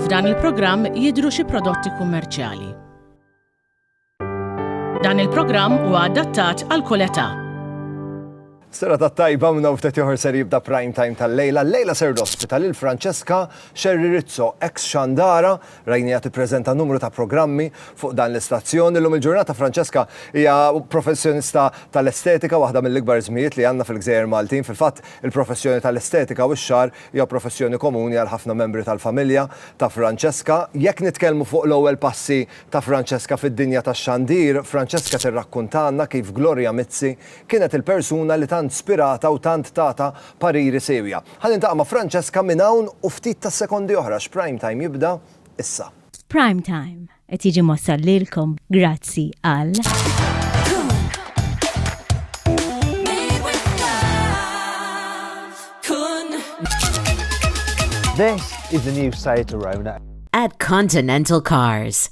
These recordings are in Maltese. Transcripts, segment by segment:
F'dan il-programm jidhru xi prodotti kummerċjali. Dan il-programm huwa adattat għal kull età. Sera ta' tajba minna u ftet joħor ser jibda prime time tal-lejla. Lejla ser l-ospita lil Francesca Xerri Rizzo, ex xandara, Rajniha tippreżenta numru ta' programmi fuq dan l-istazzjon. Illum il-ġurnata Francesca hija professjonista tal-estetika, waħda mill-ikbar ismijiet li għandna fil-gżejjer Maltin. Fil-fatt, il-professjoni tal-estetika u x-xagħar hija professjoni komuni għal ħafna membri tal-familja ta' Francesca. Jekk nitkellmu fuq l-ewwel passi ta' Francesca fid-dinja tax-xandir, Francesca tirrakkuntalna kif Gloria Mizzi kienet il-persuna li tant spiratha u tant tatha pariri siewja. Ħa niltaqa' ma' Francesca minn hawn u ftit ta' sekondi oħra għax Prime Time jibda issa. Prime Time qed jiġi mwassal lilkom grazzi għal. This is the new Seat Arona. At Continental Cars.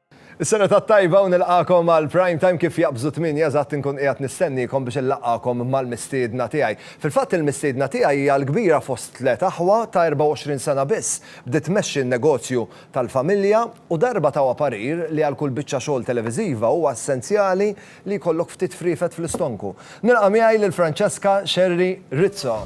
Is-sena tat-tajba u nilqagħkom għal Prime Time kif jaqbżu tmienja eżatt inkun qiegħed nistenniekom biex inlaqqagħkom mal-mistiedna tiegħi. Fil-fatt il-mistiedna tiegħi hija l-kbira fost tliet aħwa ta' 24 sena biss. Bdiet tmexxi n-negozju tal-familja u darba tawha parir li għal kull biċċa xogħol televiżiva huwa essenzjali li jkollok ftit friefet fl-istonku. Nilqa' miegħi lil Francesca Xerri Rizzo.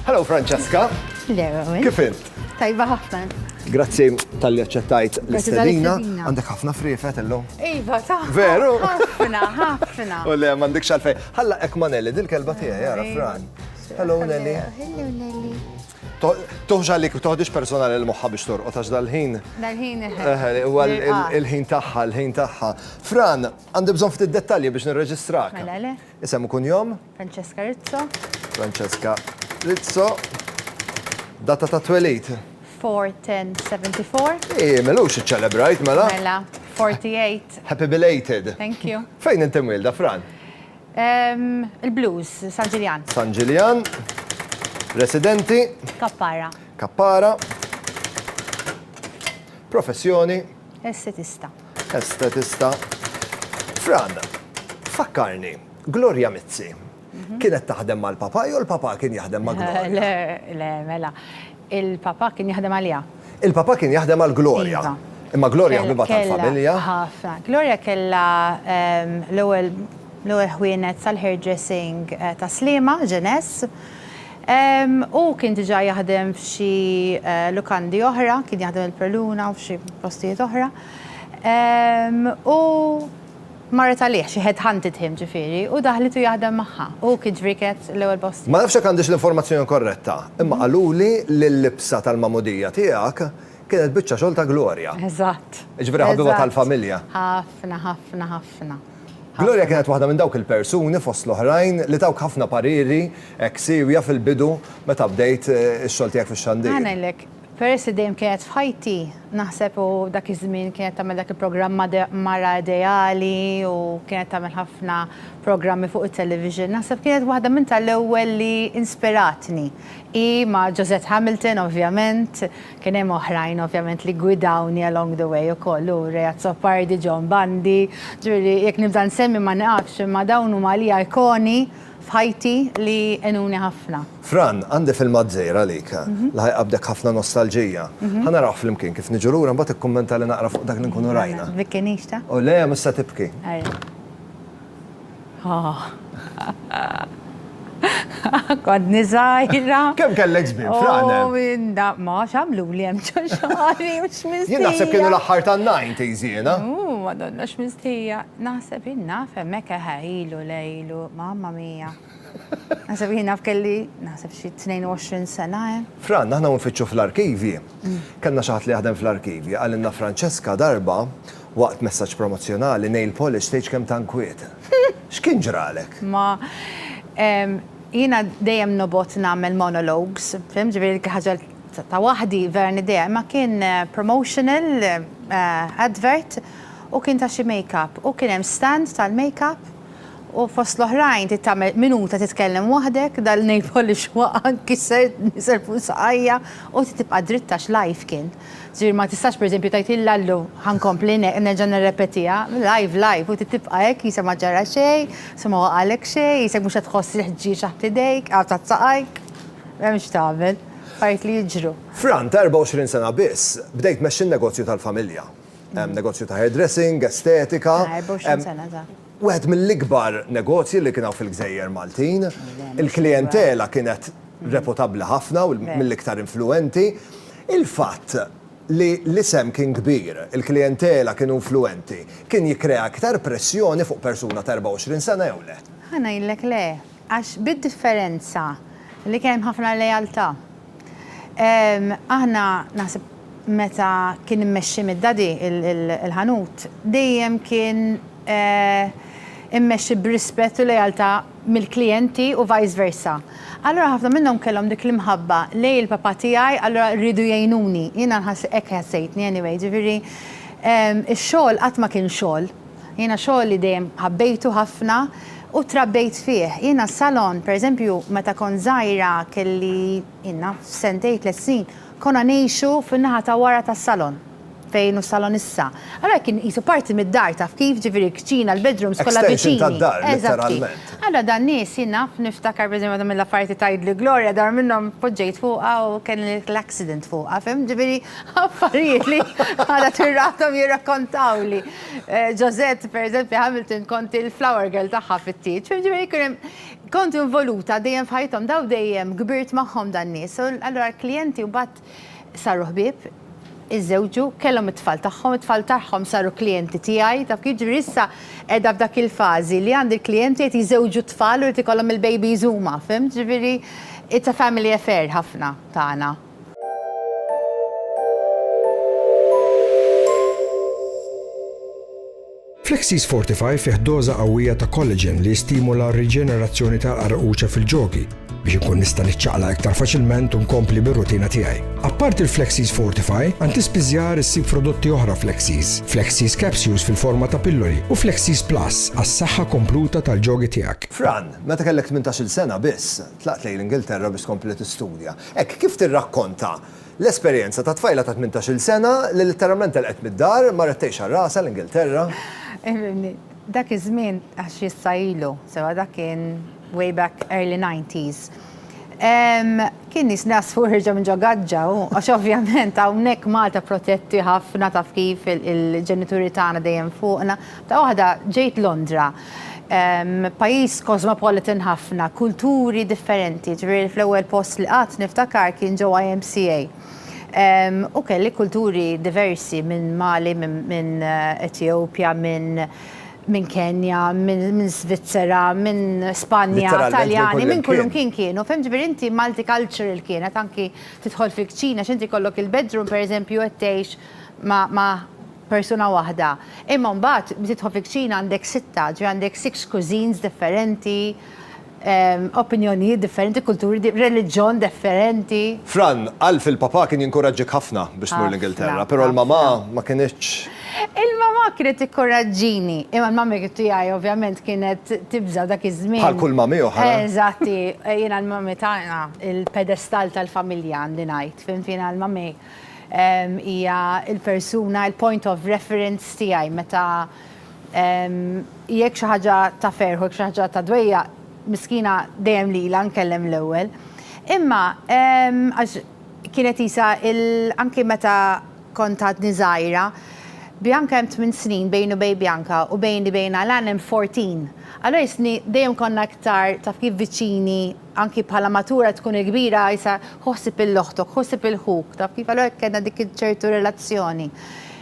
Hello Francesca! Le Rowan. Kif int? Tajba ħafna. Grazzi tal-li aċċettajt l-istedina. Għandek ħafna friefet illum. Iva, ta' veru. Ħafna, ħafna. U le, m'għandekx għalfej. Ħalla ek ma' Nelly, dil-kelba tiegħi, jara Fran. Hello Nelly. Hello Nelly. Tuħx għalik, toħdix personali l-moħħa biex torqot, għax dal-ħin. Dal-ħin. Il-ħin taħħa, il-ħin taħħa. Fran, għandi bżon ftit dettalji biex nirreġistrak. Mela le. Isem ikun jom? Francesca Rizzo. Francesca Rizzo. Data ta' twelid? 4-10-74. Ej, melux iċċelebrajt, mela. Mela, 48. Happy belated. Thank you. Fejn inti mwilda, Fran? Il-Blues, San Ġiljan. San Ġiljan. Residenti. Kappara. Kappara. Professjoni. Estetista. Estetista. Fran, fakkarni, Gloria Mizzi, mhm. kienet taħdem mal-papa jew l-papa kien jaħdem ma' Gloria? Le, le, mela. Il-papà kien jaħdem għaliha. Il-papà kien jaħdem għal Gloria. Iva. Imma Gloria ħbiba tal-familja. Kellha ħafna. Gloria kellha l-ewwel l-ewwel ħwienet sal-hairdressing ta' Sliema, Genesse. Hu kien diġà jaħdem f'xi lukandi oħra, kien jaħdem il-Preluna u f'xi postijiet oħra. U Marret għalih, she had hunted him ġifieri, u daħlitu jaħdem magħha. Hu kien ġrieket l-ewwel postijiet. Ma nafx jekk għandix l-informazzjoni korretta, imma qaluli li l-libsa tal-magħmudija tiegħek kienet biċċa xogħol ta' Gloria. Eżatt. Jiġifieri ħabiba tal-familja. Ħafna, ħafna, ħafna. Gloria kienet waħda minn dawk il-persuni, fost l-oħrajn, li tawk ħafna pariri hekk siewja fil-bidu meta bdejt ix-xogħol tiegħek fix-xandir. Ħa ngħidlek. Peress li dejjem kienet f'ħajti, naħseb u dak iż-żmien kienet tagħmel dak il-programm Made Mara Ideali u kienet tagħmel ħafna programmi fuq it-television, naħseb kienet waħda minn tal-ewwel li inspiratni. Hi ma' Josette Hamilton ovvjament, kien hemm oħrajn ovvjament li ggwidawni along the way ukoll, hu Ray Azzopardi, John Bundy, ġifieri jekk nibda nsemmi ma nieqafx imma dawn huma għalija ikoni f'ħajti li għenuni ħafna. Fran, għandi filmat żgħir għalik li ħa jqabbdek ħafna nostalġija. Ħa narawh flimkien, kif niġu lura mbagħad ikkummenta li naqra fuq dak li nkunu rajna. Tbikkinix ta? O le, mhux se tibki. Ara. Kontni żgħira. Kemm kellek żmien, Fran? O minn da, ma għax għamluli hemm ġo xagħri u x'mistija. Jien naħseb kienu l-aħħar tan-nineties jiena. Ooh, Madonna x'mistija. Naħseb, jien naf hemmhekk eħe ilu le ilu, mamma mia. Naħseb jiena kelli, naħseb xi 22 sena, eh. Fran, aħna u nfittxu fl-arkivji. Kellna xi ħadd li jaħdem fl-arkivji, qalilna Francesca darba, waqt messaġġ promozzjonali, nail polish tgħidx kemm ta' nkwiet. X'kien ġralek? Ma, ehm, jiena dejjem nobgħod nagħmel monologues, fhimt, ġifieri dik il-ħaġa ta' waħdi vera niddeja, imma kien promotional advert u kien ta' xi makeup u kien hemm stand tal-makeup, U fost l-oħrajn trid tagħmel minuta titkellem waħdek, dal-nail polish waqa' nkisser, nisel fuq saqajja u trid tibqa' dritt għax live kien. Ġifieri ma tistax pereżempju tgħid il Lallu ħa nkompli nerġa' nirrepetiha, live live u trid tibqa' hekk qisha ma ġara xejn, qisha ma waqagħlek xejn, qisek mhux qed tħoss il-ħġieġ taħt idejk, aw taħt saqajk. M'hemm x'tagħmel. Affarijiet li jiġru. Fran, ta' 24 sena biss, bdejt tmexxi n-negozju tal-familja. hemm negozju ta' hairdressing, estetika. Ta' 24 sena, ta' wieħed mill-ikbar negozji li kien hawn fil-gżejjer Maltin. Il-klijentela kienet reputabbli ħafna u mill-iktar influenti. Il-fatt li l-isem kien kbir, il-klijentela kienu influenti, kien jikkrea iktar pressjoni fuq persuna ta' 24 sena jew le? Ħa ngħidlek le. Għax bid-differenza li kien hemm ħafna lealtà. Aħna naħseb meta kien immexxi mid-Daddy il-ħanut, dejjem kien immexxi b'rispett u lealtà mill-klijenti u vice versa. Allura ħafna minnhom kellhom dik l-imħabba lejn il-papà tiegħi allura riedu jgħinuni. Jiena nħass hekk ħassejtni anyway. Ġifieri x-xogħol qatt ma kien xogħol. Jiena xogħli dejjem ħabbejtu ħafna u trabbejt fih. Jiena s-salon, pereżempju, meta kont żgħira kelli, ilna, sentejn, tliet snin, konna ngħixu fin-naħa ta' wara tas-salon, fejn hu s-salon issa. Allura kien qisu parti mid-dar, taf kif, ġifieri l-kċina, l-bedrooms kollha viċini. Extension tad-dar, litteralment. Allura dan nies, jien naf, niftakar pereżempju waħda mill-affarijiet li tgħidli Gloria, dar minnhom poġġejt fuqha u kelli l-accident fuqha, fhimt? Ġifieri affarijiet li għadha tirrahthom jirrakkontawli. Josette, per eżempju, Hamilton kont il-flower girl tagħha fit-tieġ. Ġifieri kien hemm kont involuta dejjem f'ħajthom daw dejjem kbirt magħhom dan nies. Allura l-klijenti mbagħad saru ħbieb, iżżewġu, kellhom it-tfal tagħhom, it-tfal tagħhom saru klijenti tiegħi. Taf kif jiġri issa qiegħda f'dak il-fażi li għandi l-klijenti qed jiżżewġu t-tfal u jrid ikollhom il-babies huma, fimt? Ġifieri it's a family affair ħafna tagħna. Flexis Fortify fih doża qawwija ta' collagen li jistimula r-riġenerazzjoni tal-qarquċa fil-ġogi biex inkun nista' niċċaqlaq iktar faċilment u nkompli bir-rutina tiegħi. Apparti l-Flexis Fortify, għand ispiżjar issib prodotti oħra Flexis, Flexis Capsules fil-forma ta' pilloli u Flexis Plus għas-saħħa kompluta tal-ġogi tiegħek. Fran, meta kellek tmintax-il sena biss, Tlaqt lejn l-Ingilterra biex tkompli tistudja. Hekk kif tirrakkonta l-esperjenza ta' tfajla ta' tmintax-il sena li litteralment telqet mid-dar, marret tgħix għal rasha l-Ingilterra. Ifhimni, dak iż-żmien, għax issa ilu, sewa dak kien way back early nineties, kien nies naslu ħirġa minn ġo gaġġa u għax ovvjament hawnhekk Malta protetti ħafna taf kif il-ġenituri tagħna dejjem fuqna. F'daqqa waħda ġejt Londra. Pajjiż cosmopolitan ħafna, kulturi differenti, ġifieri fl-ewwel post li qatt niftakar kien ġo IMCA. U kelli kulturi diversi minn Mali, minn Ethiopia, minn Kenya, minn Svizzera, minn Spanja, Taljani, minn kullimkien kienu, fhimt, ġifieri inti multicultural kienet anki tidħol fil-kċina, x'inti jkollok il-bedroom pereżempju qed tgħix ma' persuna waħda. Imma mbagħad tidħol fil-kċina għandek sitta, ġifieri għandek six cuisines differenti, opinjonijiet differenti, kulturi, reliġjon differenti. Fran, Alf, il-papà kien jinkuraġġik ħafna biex tmur l-Ingilterra, però l-mamà ma kinitx. Il-mamà kienet tikkoraġġini, imma l-mamì tiegħi ovvjament kienet tibża' dak iż-żmien. Bħal kull mamì oħra. Eżatt, hi. Jiena l-mamì tagħna, il-pedestal tal-familja għandi ngħid, fhimt, jiena l-mamì. Hija l-persuna, il-point of reference tiegħi meta jekk xi ħaġa ta' ferħ u jekk xi ħaġa ta' dwejjaq, miskina dejjem lilha nkellem l-ewwel. Imma għax kienet qisha anki meta kont għadni żgħira, Bianca hemm tmien snin bejni u bejn Bianca u bejni bejn Alan hemm fourteen. Allura jistni dejjem konna iktar taf kif viċini. Anki bħala matura tkun il-kbira għajsa ħu ħsieb il-oħtok, ħu ħsieb il-ħuk, taf kif? Allura kellna dik ċertu relazzjoni.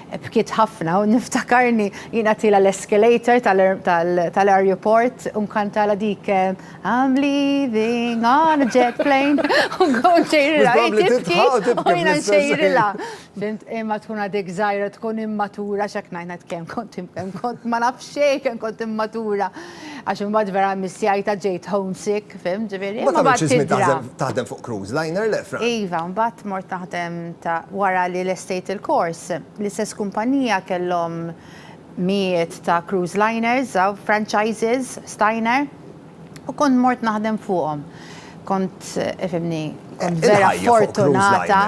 Bkiet ħafna u niftakarni jien għatilha l-escalator tal-arjuport u nkantalha dik I'm leaving on a jet plane u nkun nsejrilha hi tibki u jiena nsejrilha. Fimt? Imma tkun għadek żgħira, tkun immatura x'hekk ngħid, ngħid kemm kont ma naf xejn kemm kont immatura. Għax imbagħad vera missjajta ġejt homesick, fim, ġifieri. Imbagħad għamilt xi żmien taħdem fuq cruise liner, le, Fran? Iva, imbagħad mort naħdem ta' wara li lestejt il-kors. L-istess kumpanija kellhom mijiet ta' cruise liners, franchises, Steiner, u kont mort naħdem fuqhom. Kont, ifhimni, kont vera fortunata.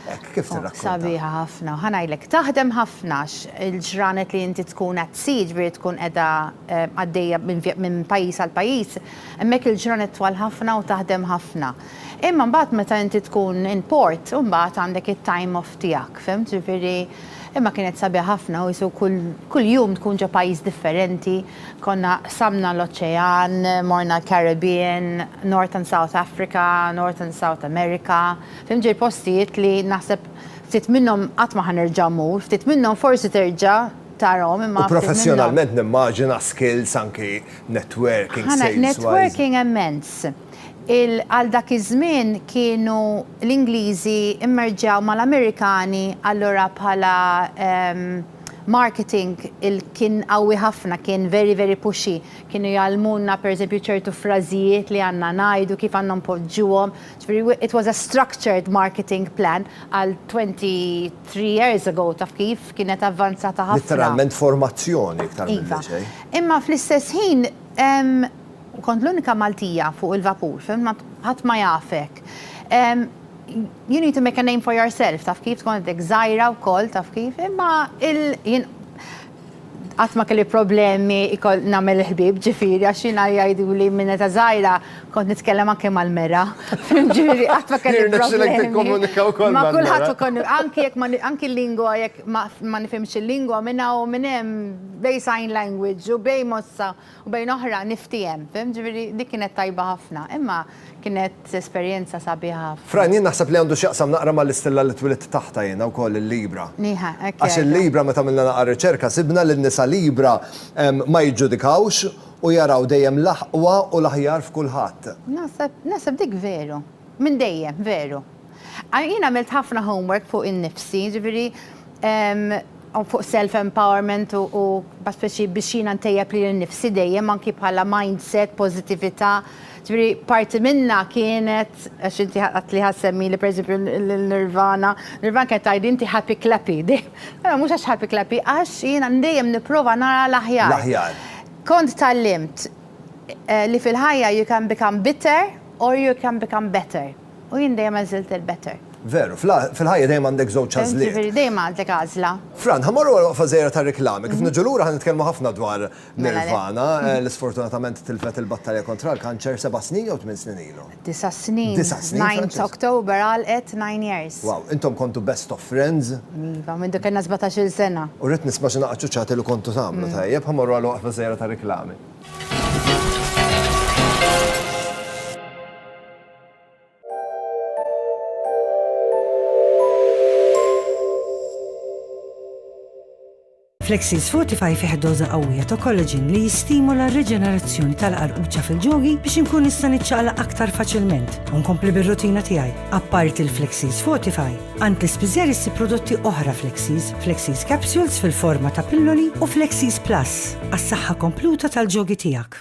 Hekk kif tirrakkonta. Sabiħa ħafna. Ħa ngħidlek, taħdem ħafna għax il-ġranet li inti tkun qed sii, jiġifieri tkun qiegħda għaddejja minn pajjiż għal pajjiż, hemmhekk il-ġranet twal ħafna u taħdem ħafna. Imma mbagħad meta inti tkun in port, imbagħad għandek it-time off tiegħek, fhimt? Jiġifieri, imma kienet sabiħa ħafna u jisu kull jum tkun ġo pajjiż differenti. Konna qsamna l-oċean, morna l-Caribbean, North and South Africa, North and South America. Fim ġej postijiet li naħseb ftit minnhom qatt ma ħa nerġa' mmur, ftit minnhom forsi terġa' tarahom imma. U professjonalment nimmaġina skills anki networking, sales wise. Ħa networking immens. Għal dak iż-żmien kienu l-Ingliżi mmerġew mal-Amerikani allura bħala marketing kien qawwi ħafna, kien very very pushy. Kienu jgħallmulna pereżempju ċertu frażijiet li għandna ngħidu, kif għandna npoġġuhom, Jiġifieri it was a structured marketing plan għal 23 years ago, taf kif, kienet avvanzata ħafna. Litteralment formazzjoni iktar milli xejn. Iva. Imma fl-istess ħin kont l-unika Maltija fuq il-vapur, fhimt, ħadd ma jafek. You need to make a name for yourself, taf kif, tkun għadek żgħira wkoll, taf kif, imma il, jien, qatt ma kelli problemi ikoll nagħmel il-ħbieb, ġifieri għax jiena jgħiduli minn meta żgħira kont nitkellem anke mal-mera. Fim, ġifieri qatt ma kelli problemi. Jirnexxilek tikkomunika wkoll mal-mera. Ma' kulħadd ukoll, anke jekk ma anke l-lingwa jekk ma nifhimx il-lingwa minn hawn u minn hemm bejn sign language u bejn mossa. U bejn oħra niftiehem, fhimt? Ġifieri dik kienet tajba ħafna. Imma kienet esperjenza sabiħa ħafna. Fran, jien naħseb li għandu x'jaqsam naqra mal-istilla li twilidt taħtha jiena wkoll, il-Libra. Nieħa, hekk jgħidu. Għax il-Libra meta għamilna naqra riċerka sibna li n-nisa Libra ma jiġġudikawx u jaraw dejjem l-aħqwa u l-aħjar f'kulħadd. Naħseb, naħseb dik veru. Minn dejjem, veru. Jien għamilt ħafna homework fuq innifsi, ġifieri fuq self empowerment u speċi biex jiena ntejjeb lili nnifsi dejjem anki bħala mindset, pożittività. Ġifieri parti minnha kienet, għax inti għedt li ħa ssemmieli pereżempju lil Nirvana, Nirvana kienet tgħidli inti happy clappy. Però mhux għax happy clappy, għax jiena dejjem nipprova nara l-aħjar. L-aħjar. Kont tgħallimt li fil-ħajja you can become bitter or you can become better. U jien dejjem għażilt il-better. Veru, fil-ħajja dejjem għandek żewġ għażliet. Jiġifieri dejjem għandek għażla. Fran, ħa mmorru għal waqfa żgħira tar-riklami. Kif niġu lura ħa nitkellmu ħafna dwar Nirvana, li sfortunatament tilfet il-battalja kontra l-kanċer seba' snin jew tmien snin ilu? Disa' snin. Disa' snin. Ninth October għalqet nine years. Wow, intom kontu best of friends? Iva, mindu kellna sbatax-il sena. U rrid nisma' xi naqa' ċuċċati li kontu tagħmlu. Tajjeb, ħa mmorru għal waqfa żgħira tar-riklami. Flexis Fortify fih doża qawwija ta' kollaġin li jistimula r-riġenerazzjoni tal-qarquċċa fil-ġogi biex inkun nista' niċċaqlaq aktar faċilment u nkompli bir-rutina tiegħi. Apparti l-Flexis Fortify, għand l-ispiżer issi prodotti oħra Flexis, Flexis Capsules fil-forma ta' pilloli u Flexis Plus għas-saħħa kompluta tal-ġogi tiegħek.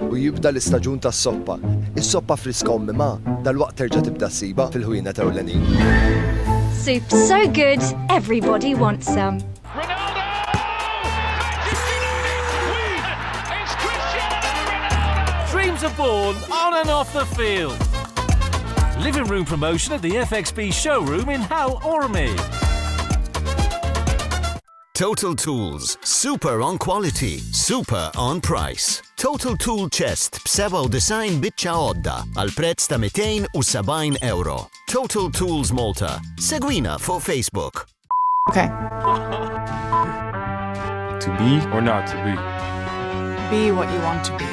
U jibda l-istaġun tas-soppa. Is-soppa friska u mmimgħa dalwaqt terġa' tibda ssibha fil-ħwienet ewlenin. Soup so good, everybody wants some. Dreams are born on and off the field. Living room promotion at the FXB showroom in Hal Ormi. Total Tools, super on quality, super on price. Total Tool Chest b'97 biċċa għodda għal prezz ta' 270 euro. Total Tools Malta. Segwina fuq Facebook. Okay. to be or not to be. Be what you want to be.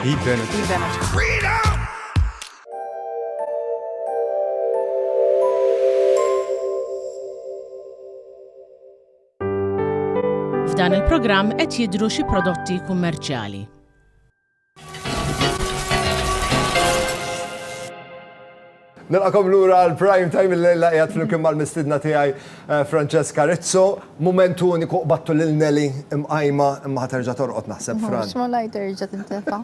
Be benefit. Be benefit. Freedom! F'dan il-programm qed jidhru xi prodotti kummerċjali. Nilqakom lura għal prime time il-lejla qiegħed flimkien mal-mistidna tiegħi eh, Francesca Rizzo. Mument uniku qbattu lil Nelly imqajma imma ħaterġa' torqod naħseb Fran. X'ma lajt terġa' tintefa'.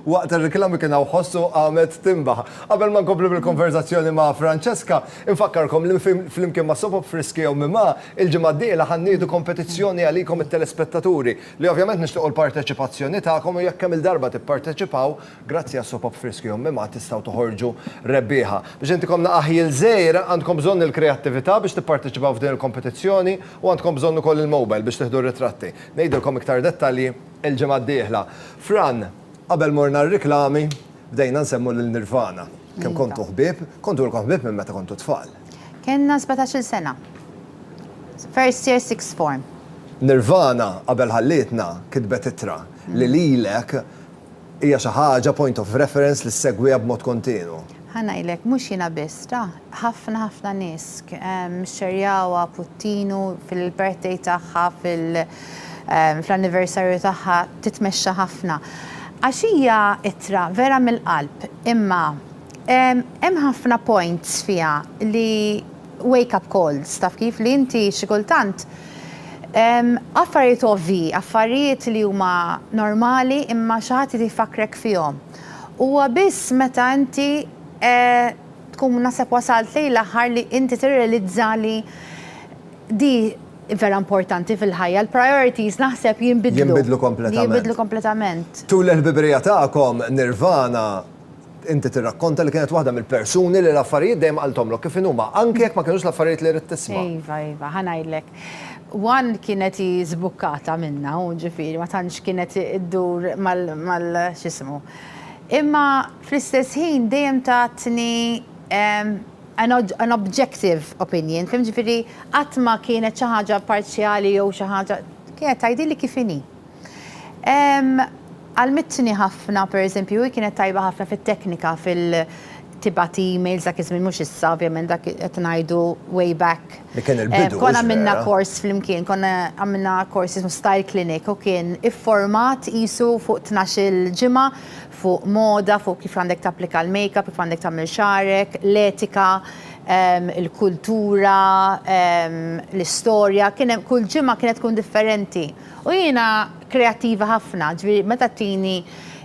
Waqt ir-reklami kien hawn ħossu qamet timbaħ. Qabel ma nkomplu bil-konverzazzjoni ma' Francesca, Infakkarkom li flimkien ma' Soap Up Friski jew Mimha, il-ġimgħa d-dieħla ħa nniedu kompetizzjoni għalikom it-telespettaturi, li ovvjament nixtiequ l-parteċipazzjoni tagħkom u jekk kemm-il darba tipparteċipaw, grazzi għal Soap Up Friski jew Mimha tistgħu toħorġu rebbieħa. Biex intikom naqgħa ħjiel żgħir, għandkom bżonn il-kreattività biex tipparteċipaw f'din il-kompetizzjoni u għandkom bżonn ukoll il-mobile biex tieħdu r-ritratti. Ngħidilkom iktar dettalji il-ġimgħa d-dieħla. Fran, qabel morna r-riklami, bdejna nsemmu lil Nirvana. Kemm kontu ħbieb? Kontu lkom ħbieb minn meta kontu tfal? Kellna sbatax-il sena. First year sixth form. Nirvana qabel ħallietna kitbet ittra li lilek hija xi ħaġa point of reference li ssegwiha b'mod kontinwu. Ħa ngħidlek, mhux jiena biss, ta, ħafna ħafna nies xxerjawha, Puttinu fil-birthday tagħha, fil, fl-anniversarju tagħha titmexxa ħafna għax hija ittra vera mill-qalb imma hemm ħafna points fiha li wake up calls taf kif li inti xi kultant affarijiet ovvji, affarijiet li huma normali imma xi ħadd irid ifakkrek fihom. Huwa biss meta inti tkun naħseb wasalt lejn l-aħħar li inti tirrealizza li Di vera importanti fil-ħajja, l-priorities naħseb jinbidlu. Jinbidlu kompletament. Jinbidlu kompletament. Tul il-ħbibrija tagħkom, Nirvana, inti tirrakkonta li kienet waħda mill-persuni li l-affarijiet dejjem qalthomlok kif inhuma, anke jekk ma kinux l-affarijiet li ridt tisma'. Iva, iva, ħa ngħidlek. One kienet hi żbukkata minnha u ġifieri ma tantx kienet iddur mal-, x'ismu. Imma fl-istess ħin dejjem tatni, an objective opinion, fim, ġifieri qatt ma kienet xi ħaġa parzjali jew xi ħaġa, kienet tgħidilli kif inhi. Għallmitni ħafna, pereżempju, hi kienet tajba ħafna fit-teknika, fil, tibgħat emails dak iż-żmien, mhux issa ovvjament dak qed ngħidu way back. Dak kien il-bidu. Konna għamilna kors flimkien, konna għamilna kors jismu Style Clinic u kien ifformat qisu fuq tnax-il ġimgħa, fuq moda, fuq kif għandek tapplika l-makeup, kif għandek tagħmel xagħrek, l-etika, il-kultura, l-istorja, kien hemm, kull ġimgħa kienet tkun differenti. U jiena kreattiva ħafna, ġifieri meta tini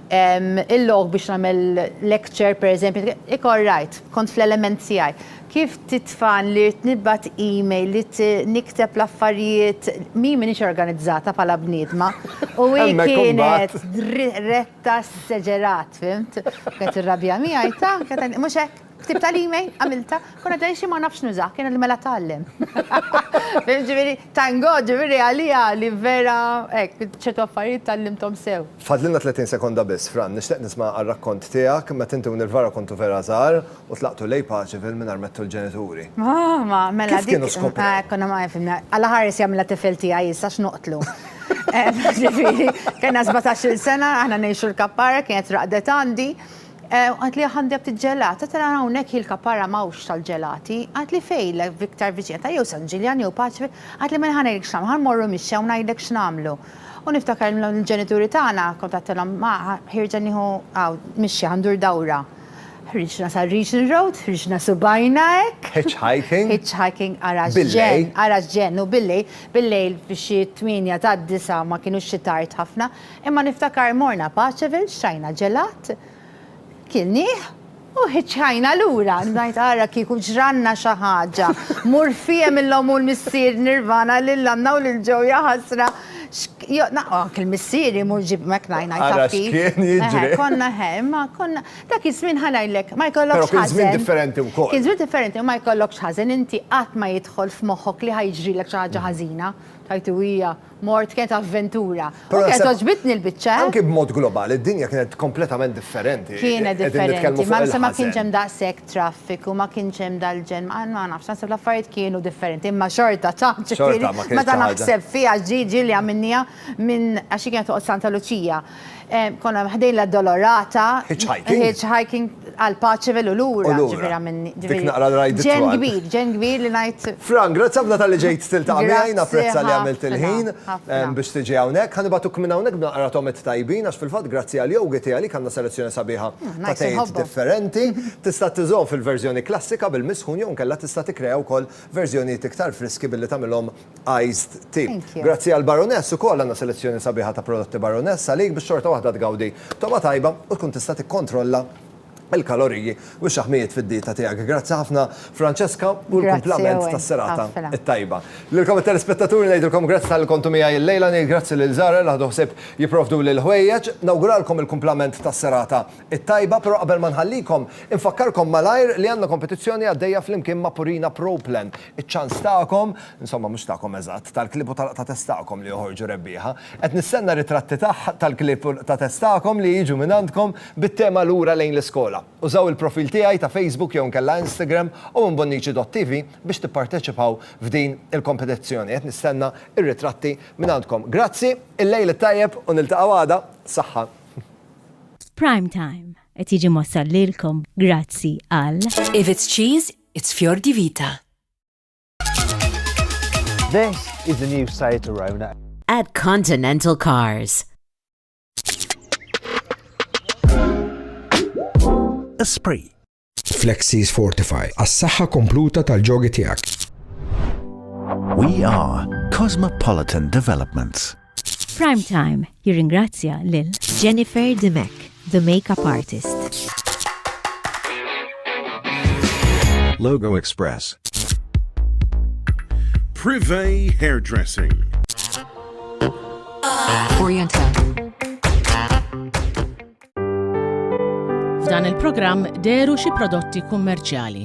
il-lok biex nagħmel lecture pereżempju, ikoll rajt, kont fl-element tiegħi. Kif titfan li rrid nibgħat email, rrid nikteb l-affarijiet, min m'iniex organizzata bħala bniedma u hi kienet retta s-seġerat, fhimt? U kienet tirrabja miegħi, ta, kienet tgħidli, mhux hekk? Ktibtha l-email? Għamiltha? Kont qed ngħid xi ma nafx nużah, kien għadni mela tgħallem. Fhimt, ġifieri, thank God, ġifieri għaliha li vera hekk, ċertu affarijiet tgħallimthom sew. Fadlilna tletin sekonda biss, Fran, nixtieq nisma' r-rakkont tiegħek meta inti u Nirvara kontu vera żgħar U tlaqtu lejn paċi fil mingħajr mettu l-ġenituri. Ah, ma, mela dik. Kif kienu skoprew? Ah, konna ma għafimna. Alla ħares jagħmilha tifel tiegħi issa x'noqtlu. Ġifieri, kena 17 sena, aħna ngħixu l-kappara, kienet raqdet għandi. Għat li għandi għabti ġelata, tara għawnek il-kappara mawx tal-ġelati, għat li fej l-viktar viċinata, jew San Ġiljan, jew Paċvi, għat li menħana jek xnam, għan morru mixja, għawna jidek xnamlu. U niftakar l-ġenituri tagħna kontattilhom ma ħirġa nieħu għaw mixja għandur dawra. Ħriġna sa Regent Road, ħriġna subajna hekk. Hitchhiking. Hitchhiking ara ġen, ara ġen u billejl, billejl f'xi tmienja ta' disa' ma kienux xi tard ħafna, imma niftakar morna Paceville xtrajna ġelat, kilnieh u hitchhajna lura. Ngħid ara kieku ġralna xi ħaġa. Mur fiehem illum hu l-missier Nirvana lil Anna u lil Joe jaħasra. X'k. Anke l-missieri mhux ġib hekk ngħid ngħid taf kif. Ara x'kien jiġri. Eħe, konna eħe, imma konna dak iż-żmien ħa ngħidlek ma jkollokx ħażen. Però kien żmien differenti wkoll. Kien żmien differenti u ma jkollokx ħażen, inti qatt ma jidħol f'moħħok li ħa jiġrilek xi ħaġa ħażina. Tajt u hija, mort kienet avventura. U kienet għoġbitni l-biċċa, eh. Anke b'mod globali, d-dinja kienet kompletament differenti. Kienet differenti, ma kienx hemm daqshekk. traffiku, ma kienx hemm dal-ġenn, ma ma nafx, naħseb l-affarijiet kienu differenti, imma xorta ta', ġifieri, Xorta ma kienx meta ta' ħaġa. naħseb fiha Gigi li għamilniha minn, għax hi kienet toqgħod Santa Luċija, ehm, konna ħdejn l-Addolorata, Hitchhiking. hitchhiking għal Paceville u lura, U lura. ġifieri għamilni, Dik ġifieri, naqra l-rajd ġenn it-twal. kbir, ġenn kbir li ngħid, Fran, grazzi ħafna talli ġejt tiltaqa' miegħi, Grazzi napprezza li għamilt ħafna, il-ħin ħafna. ehm, biex tiġi hawnhekk. Ħa nibagħtuk minn hawnhekk b'naqra togħmiet tajbin għax fil-fatt grazzi għal Yogi Tea għalik għandna selezzjoni sabiħa ta' tgħid differenti, tista' tiżgħu fil-verżjoni klassika bil-misħun jew inkella tista' tikkrea wkoll verżjonijiet iktar friski billi tagħmilhom iced tea. Grazzi għal Baroness ukoll għandna selezzjoni sabiħa ta' prodotti Baroness għalik biex xorta waħda tgawdi togħma tajba u tkun tista' tikkontrolla l-kaloriji u x-xaħmijiet fid-dieta tiegħek. Grazzi ħafna Francesca, u l-kumplament tas-serata t-tajba. Lilkom it-telespettaturi ngħidilkom grazzi talli kontu miegħi illejla, ngħid grazzi lil Zahra li ħadu ħsieb jipprovduli l-ħwejjeġ. Nawguralkom il-kumplament tas-serata t-tajba, però qabel ma nħallikom, infakkarkom malajr li għandna kompetizzjoni għaddejja flimkien ma' Purina Pro Plan. Iċ-ċans tagħkom, insomma mhux tagħkom eżatt, tal-klieb u tal-qtatess tagħkom li joħorġu rebbieħa. Qed nistenna ritratti tal-klieb u l-qtatess tagħkom li jiġu mingħandkom bit-tema Lura lejn l-iskola. Użaw il-profil tiegħi ta' Facebook jew inkella Instagram u minn Bonnici.TV biex tipparteċipaw f'din il-kompetizzjoni. Qed nistenna r-ritratti minn għandkom. Grazzi, il-lejl it-tajjeb u niltaqgħu għada. Saħħa. Prime Time qed jiġi mwassal lilkom grazzi għal. If it's cheese, it's Fior di Vita. This is the new Seat Arona. At Continental Cars. Esprit. Flexis Fortify, għas-saħħa kompluta tal-ġogi tiegħek. We are Cosmopolitan Developments. Prime Time jirringrazzja lil Jennifer Dimek, the makeup artist. Logo Express. Privé Hairdressing. Orienta. F'dan il-programm deru xi prodotti kummerċjali.